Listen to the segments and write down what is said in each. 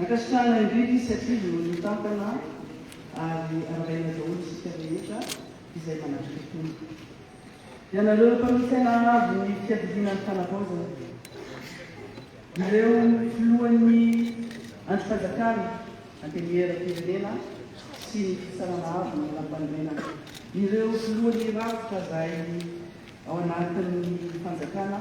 Ankasitrahana indrindra izy satria vonoiny mitantana ary arabaina daholo isika rehetra izay manatrika tony. Ianareo mpamita ny haavo ny fiadidiana ny fanavaozana. Ireo filohan'ny andrim-panjakana, antenimieram-pirenena sy ny fitsarana avo ny lampanorenana. Ireo filohan'ny rafitra izay ao anatin'ny fanjakana.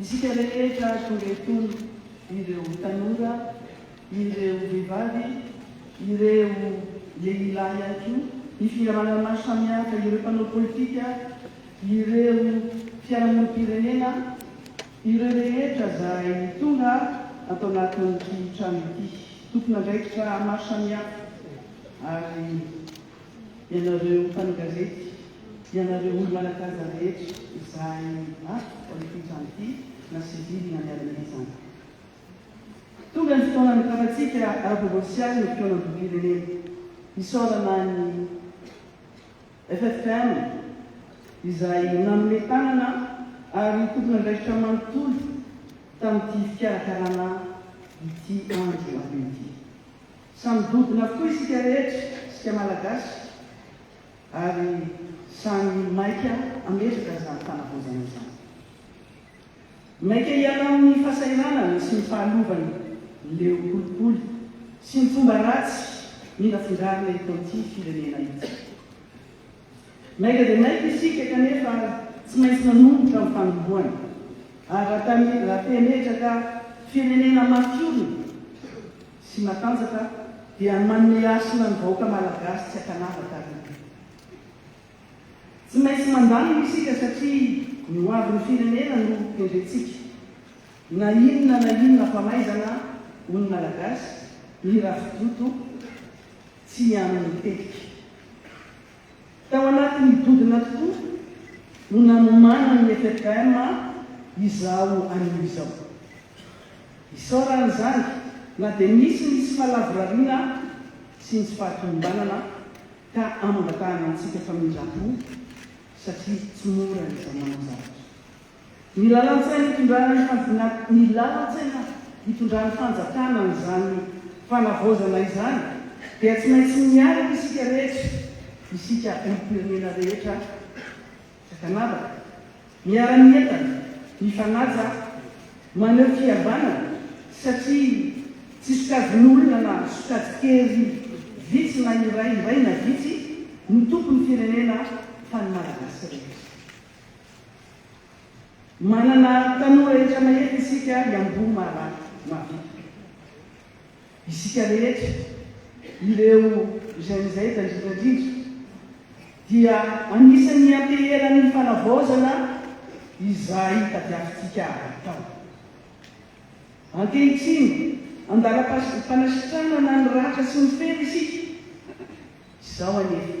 Isika rehetra tonga etony, ireo tanora, ireo vehivavy, ireo lehilahy ihany koa, ny fihavanana maro samihafa, ireo mpanao politika, ireo fiarahamonim-pirenena, ireo rehetra izay tonga ato anatin'ity trano ity. Tompon'andraikitra maro samihafa ary Ianareo mpanogazety, ianareo olo manakaja rehetra izay ato amin'ity trano ity na civil na miaramila izany. Tonga ny fotoana anokafan-tsika ara-provensialy ny fikaonam-bokim-pirenena. Isaorana an'i FFKM izay nanome tanana ary tompon'andraikitra manontolo tamin'ity fikarakarana ity andro anio ity. Samy dodona avokoa isika rehetra, isika Malagasy, ary samy maika hametraka izany fanavaozana izany. Maika hiala amin'ny fahasahiranana sy ny fahalovany leo kolikoly sy ny fomba ratsy ninafindrarina eto amin'ity firenena ity. Maika dia maika isika kanefa tsy maintsy manomboka amin'ny fanombohana, ary raha te hametraka firenena maty orina, sy matanjaka dia ny manome hasina ny vahoaka malagasy tsy an-kanavaka ary ity. Tsy maintsy mandamina isika satria ny ho avin'ny firenena no kendrentsika. Na inona na inona famaizana, hoy ny malagasy, ny rafidoto tsy amin'ny tetika. Tao anatin'ny dodona tokoa no nanomanan'ny FFM izaho anio izao. Isaorana izany na dia misy ny tsy fahalavorariana sy ny tsy fahatomombanana ka amangatahana antsika famindram-po satria tsy mora ny zama-manao zavatra. Ny lalan-tsaina itondrana ny fanjna ny lalan-tsaina itondran'ny fanjakana an'izany fanavaozana izany dia tsy maintsy miaraka isika rehetra, isika olom-pirenena rehetra sakanavaka, miara-mientana, mifanaja, maneho fihavanana satria tsy sokajin'olona na sokajy kely vitsy na iray iray na vitsy no tompon'ny firenena fa ny Malagasy rehetra. Manana tanora efa nahery isika ary amboho marary mavitrika. Isika rehetra, ireo jeunes aides indrindra indrindra, dia anisan'ny ianteheran'ny fanavaozana izay tadiavintsika hatao. Ankehitriny, an-dalam-panasitranana ny ratra sy ny fera isika izao anefa.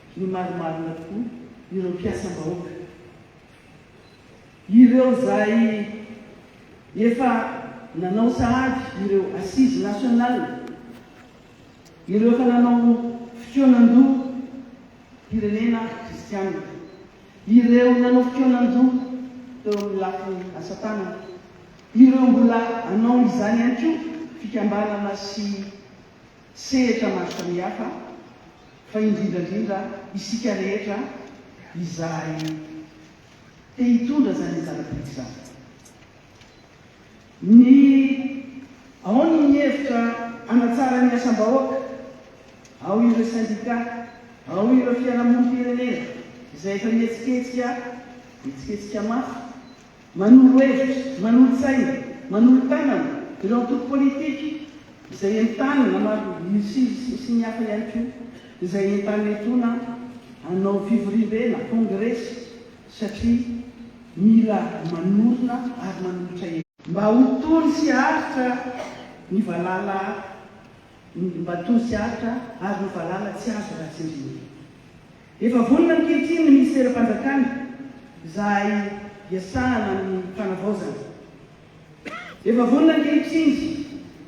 no marimarina tokoa ireo mpiasam-bahoaka, ireo izay efa nanao sahady ireo Assises nationales, ireo efa nanao fikaonan-doha mpirenena kristianina, ireo nanao fikaonan-doha teo amin'ny lafiny asa-tanana, ireo mbola hanao izany ihany koa fikambanana sy. sehatra maro samihafa fa indrindra indrindra isika rehetra izay te hitondra izany zava-dehibe izany. Ny ao ny mihevitra hanatsara ny asam-bahoaka, ao ireo sendika, ao ireo fiarahamonim-pirenena izay efa mihetsiketsika, mihetsiketsika mafy Manolo hevitra, manolo-tsaina, manolo-tanana ireo antoko politika izay entanina na maro sy ny hafa ihany koa izay entanina etoana hanao fivoriambe na kongresy satria mila manorina ary manolotra hevitra. Mba ho tony sy aritra ny valala Mba tony sy aritra ary ny valala tsy azo ratsy indrindra. Efa vonona ankehitriny ny minisiteram-panjakana izay iasahana amin'ny fanavaozana. Efa vonona ankehitriny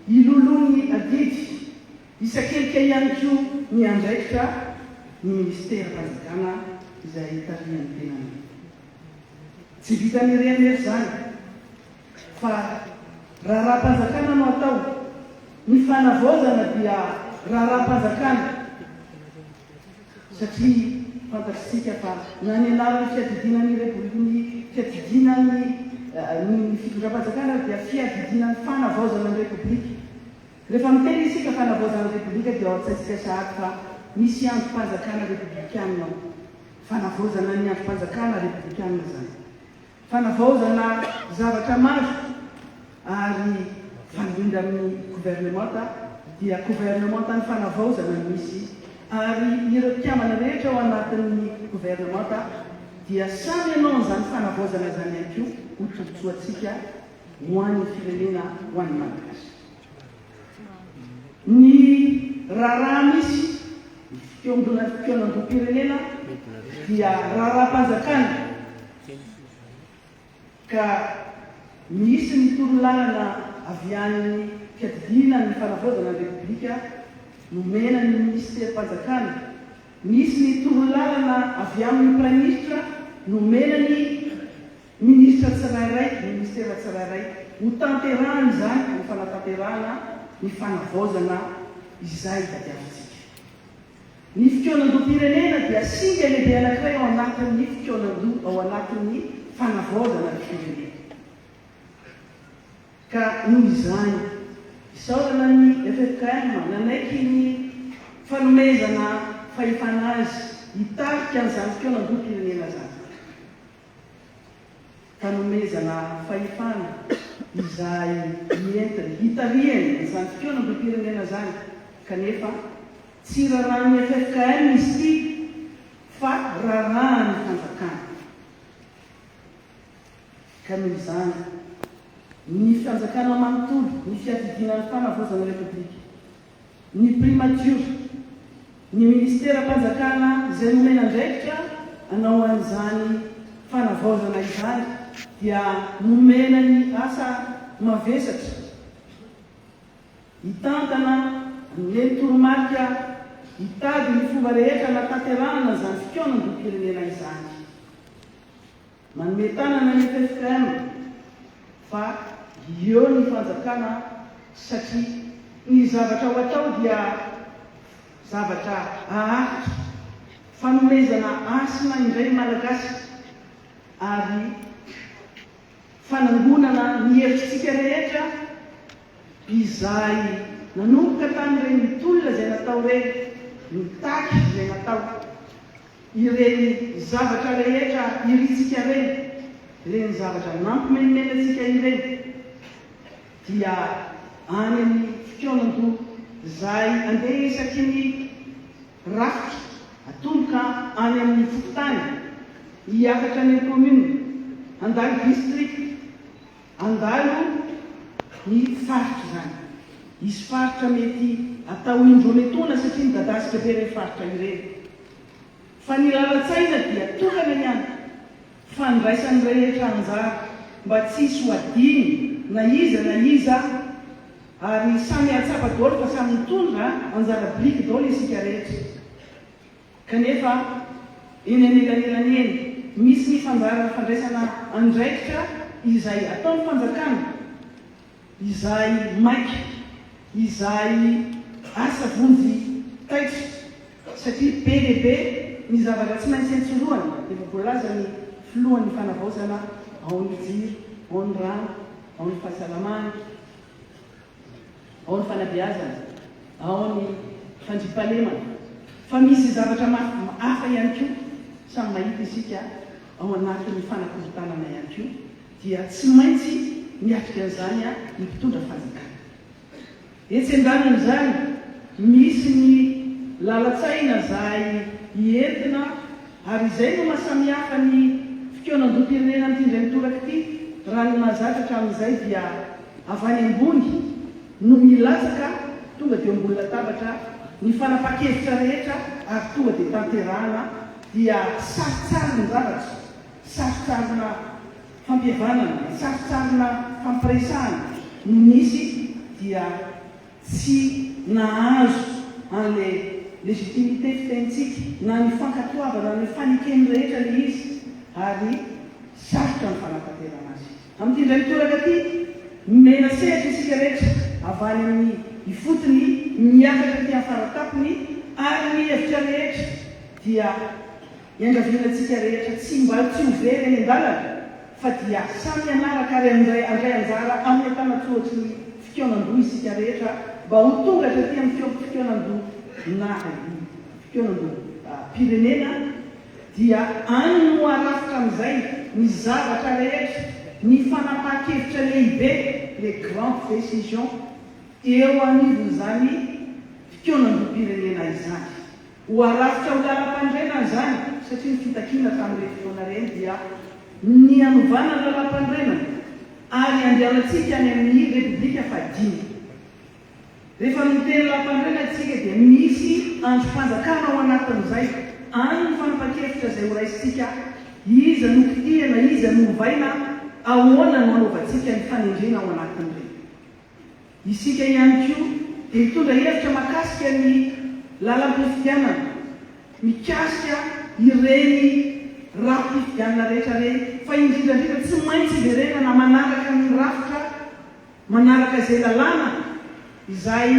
hiloloha ny adidy isan-kelika ihany koa ny andraikitra ny minisiteram-panjakana izay tarihan'ny tenany. Tsy vitan'ireny nefa izany fa raharaham-panjakana no atao. Ny fanavaozana dia raharaham-panjakana. satria fantatsika fa na ny anaran'ny fiadidiana ny Revo ny fiadidiana ny ny fitondram-panjakana ary dia fiadidiana ny fanavaozana ny Repoblika. Rehefa miteny isika fanavaozana ny Repoblika dia ao an-tsaintsika sahady fa misy andrim-panjakana Repoblikana ao. Fanavaozana ny andrim-panjakana Repoblikana izany. Fanavaozana zavatra maro ary fandrindra amin'ny governemanta dia governemanta ny fanavaozana no misy ary ireo mpikambana rehetra ao anatin'ny governemanta dia samy hanao an'izany fanavaozana izany ihany koa ho tombontsoantsika ho an'ny firenena ho an'ny Malagasy. Ny raharaha misy ny fiombonan'ny fikaonandoham-pirenena dia raharaham-panjakana. ka nisy ny torolalana avy any fiadidiana ny fanavaozana ny Repoblika nomena ny Minisiterim-panjakana, nisy ny torolalana avy amin'ny Praiminisitra nomena ny Minisitra tsirairay, Minisitera tsirairay, hotanterahany izany ho fanatanterahana ny fanavaozana izay tadiavintsika. Ny fikaonandoham-pirenena dia singa lehibe anankiray ao anatin'ny fikaonandoha ao anatin'ny fanavaozana ny firenena. Ka noho izany, isaorana ny ffkm nanaiky ny fanomezana fahefana azy hitarika an'izany fikaonandoham-pirenena izany. ka nomezana fahefana izay nentiny hitarihany izany fikaonam-bim-pirenena izany kanefa tsy rarahan'ny ffkm izy ity fa rarahan'ny fanjakana ka noho izany ny fanjakana manontolo ny fiadidiana ny fanavaozana repoblika. ny Primatiora, ny Ministeram-panjakana izay nomena andraikitra hanao an'izany fanavaozana izany dia nomena ny asa mavesatra hitantana hameno toromarika hitady ny fomba rehetra hanatanterahana izany fikaonandoham-pirenena izany. Manome tanana ny ffkm fa hieo ny fanjakana satria ny zavatra ho atao dia zavatra haharitra. Fanomezana hasina indray ny Malagasy ary fanangonana ny hevitsika rehetra izay nanomboka tamin'ireny tolona izay natao ireny, mitaky izay natao. Ireny zavatra rehetra irintsika ireny, ireny zavatra nampimenomenona antsika ireny, dia any amin'ny fikaonandoha izay andeha isaky ny rafitra, atomboka any amin'ny fokontany, hiakatra any amin'ny commune, handalo district. Handalo ny faritra izany. Hisy faritra mety atao indroa metoana satria midadasika be ireny faritra ireny. Fa ny lalan-tsaina dia tokana ihany. Fandraisan'ny rehetra anjara mba tsy hisy ho adino na iza na iza ary samy hahatsapa daholo fa samy mitondra anjara biriky daholo isika rehetra. Kanefa, eny anelanelany eny, misy ny fandaharan'ny fandraisana andraikitra izay ataon'ny fanjakana, izay maika, izay asa vonjy taitra, satria be dia be ny zavatra tsy maintsy entsorohana, efa voalazan'ny Filohan'ny Fanavaozana ao amin'ny jiro, ao amin'ny rano, ao amin'ny fahasalamana. ao ny fanabeazana, ao ny fandriampahalemana, fa misy zavatra maro hafa ihany koa samy mahita isika ao anatin'ny fanakorontanana ihany koa dia tsy maintsy miatrika an'izany ny mpitondra fanjakana. Etsy andanin'izany misy ny lalan-tsaina izay entina Ary izay no maha samihafa ny fikaonandoham-pirenena amin'ity indray mitoraka ity, raha ny mahazatra hatramin'izay dia avy any ambony no milatsaka tonga dia eo ambony latabatra ny fanapahan-kevitra rehetra ary tonga dia tanterahana, dia saritsarin-javatra, sarisarina fampihavanana, sarisarina fampiresahana no misy, dia. tsy nahazo an'ilay légitimité fitenintsika na ny fankatoavana ny fanekeny rehetra ilay izy ary sarotra ny fanatanterana azy. Amin'ity indray mitoraka ity, nomena sehatra isika rehetra avy any amin'ny ifotony miakatra aty amin'ny faratapony ary ny hevitra rehetra dia. Iangavianantsika rehetra tsy mba tsy ho very eny an-dalana fa dia samy hanaraka ary handray handray anjara amin'ny antanan-tsoratry ny fikaonan-doha isika rehetra mba ho tonga hatraty amin'ny fiaom-pikaonan-doha naha-izy fikaonan-doham-pirenena dia any no harafitra amin'izay ny zavatra rehetra, ny fanapahan-kevitra lehibe, les grandes décisions, eo anivon'izany fikaonan-doham-pirenena izany. Ho arafitra ho lalam-panorenana izany satria ny fitakiana tamin'ireny fotoana ireny dia ny hanovana ny lalam-panorenana ary handehanantsika any amin'ny Repoblika fahadimy. Rehefa miteny lalam-panorenana isika dia misy andrim-panjakana ao anatin'izay, any ny fanapan-kevitra izay horaisintsika, iza no kitihana, iza no ovaina, ahoana no hanaovantsika ny fanendrena ao anatin'ireny. Isika ihany koa dia hitondra hevitra mahakasika ny lalam-pifidianana, mikasika ireny rafi-pifidianana rehetra ireny, fa indrindra indrindra tsy maintsy hiverenana manaraka ny rafitra, manaraka izay lalàna izay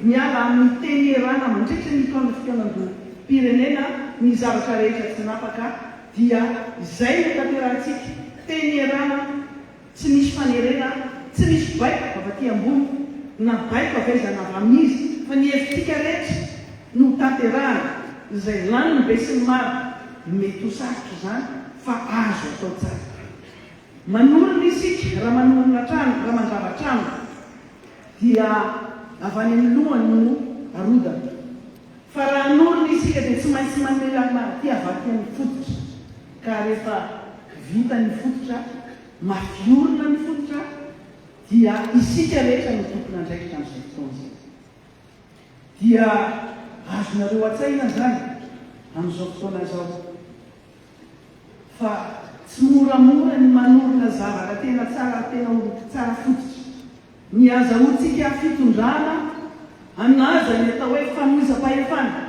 miala amin'ny teny ierana mandritra ny taona fikaonandoham-pirenena ny zavatra rehetra tsy napaka dia izay no tanterahantsika, teny ierana, Tsy misy fanerena aho, tsy misy baiko avy aty ambony na baiko avy aiza na avy amin'iza fa ny hevitsika rehetra no ho tanterahana, izay lanin'ny besinimaro mety ho sarotra izany fa azo atao tsara. Manorina isika raha manorina trano, raha mandrava trano dia avy any amin'ny lohany no arodana. Fa raha hanorina isika dia tsy maintsy manome lalana aty avy aty amin'ny fototra. Ka rehefa vita ny fototra, mafy orina ny fototra, dia isika rehetra no tompon'andraikitra amin'izay fotoana izay. Dia azonareo an-tsaina izany amin'izao fotoana izao fa tsy moramora ny manorina zavatra tena tsara ary tena ho tsara fototra. Ny hazahoantsika fitondrana an'aza ny atao hoe famoizam-pahefana.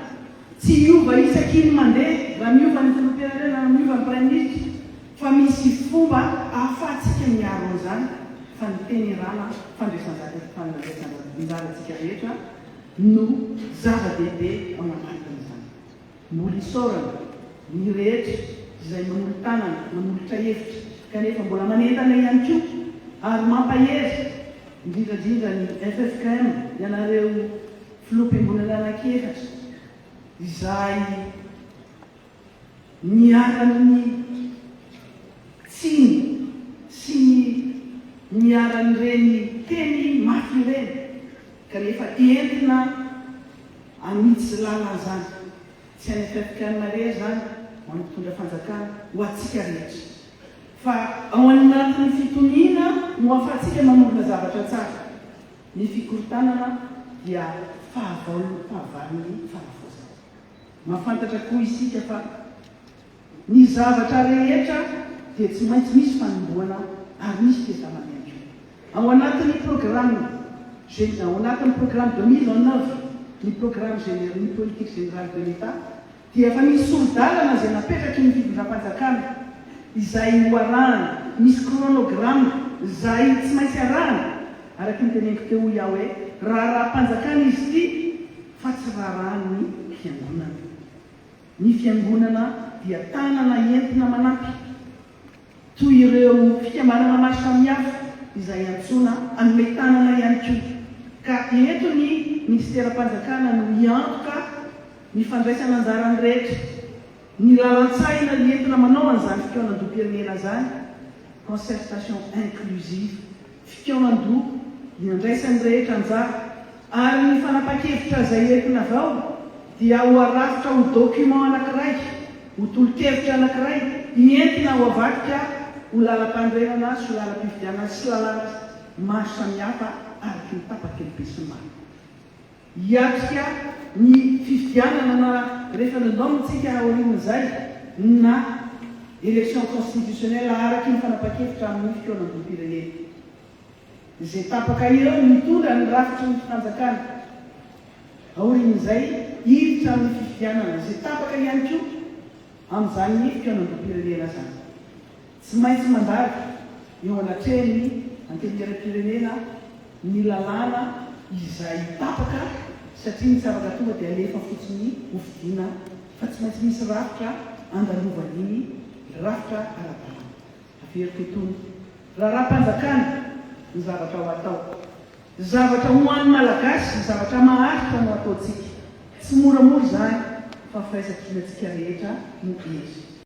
Tsy hiova isaky ny mandeha raha miova ny filoham-pirenena na miova ny praiminisitra fa misy fomba ahafahantsika miaro an'izany fa ny tenerana fandraisan-dahiny sy fandraisan-anjarantsika rehetra no zava-dehibe ao anatin'izany. Mbola isaorana ny rehetra izay manolo-tanana, manolotra hevitra kanefa mbola manentana ihany koa ary mampahery indrindra indrindra ny ffkm, ianareo Filoham-piangonana anankiefatra izay niharan'ny tsiny sy ny niharan'ireny teny mafy ireny. kanefa entina amiditsy lalana izany, tsy any afrikana irery izany na mpitondra fanjakana, ho antsika rehetra, fa ao anatin'ny fitoniana no ahafahantsika manorina zavatra tsara, ny fikorontanana dia fahavalon'ny fahavalon'ny fanavaozana, mahafantatra koa isika fa. Ny zavatra rehetra dia tsy maintsy misy fanombohana ary misy testament ihany koa. Ao anatin'ny programme gen, ao anatin'ny programme de mise en œuvre ny programme general, ny politique générale de l'Etat dia efa misy sori-dalana izay napetraky ny fitondram-panjakana izay ho arahana, misy chronogramme izay tsy maintsy arahana, araky ny teneniko teo hoy aho hoe raharaham-panjakana izy ity fa tsy raharahan'ny fiangonana. Ny Fiangonana dia tanana entina manampy, toy ireo fikambanana maro samihafa izay antsoina hanome tanana ihany koa, ka eto ny Minisiteram-panjakana no hiantoka ny fandraisana anjaran'ny rehetra. Ny lalan-tsahina entina manao an'izany fikaonandoham-pirenena izany, concertation inclusive, fikaonan-doha iandraisan'ny rehetra anjara, ary ny fanapahan-kevitra izay entina avy ao dia ho arafitra ho document anankiray, ho tolo-kevitra anankiray ientina ho avadika ho lalam-panorenana sy ho lalam-pifidianana sy lalàna maro samihafa araky ny tapaky ny besinimaro. Hiatrika ny fifidianana na referendum tsika aorian'izay na election constitutionnelle araky ny fanapahan-kevitra amin'ny fikaonandoham-pirenena. Izay tapaka ireo no hitondra ny rafitry ny fanjakana aorian'izay hiditra amin'ny fifidianana, izay tapaka ihany koa amin'izany fikaonandoham-pirenena izany. Tsy maintsy mandady eo anatrehan'ny Antenimierampirenena ny lalàna izay tapaka satria ny tsy afaka tonga dia alefa fotsiny ho fidiana fa tsy maintsy misy rafitra andalovan'iny rafitra ara-dalàna. Averiko itony raharaham-panjakana ny zavatra ho atao. Zavatra ho an'ny Malagasy, zavatra maharitra no ataontsika. Tsy moramora izany fa firaisankinantsika rehetra no hery.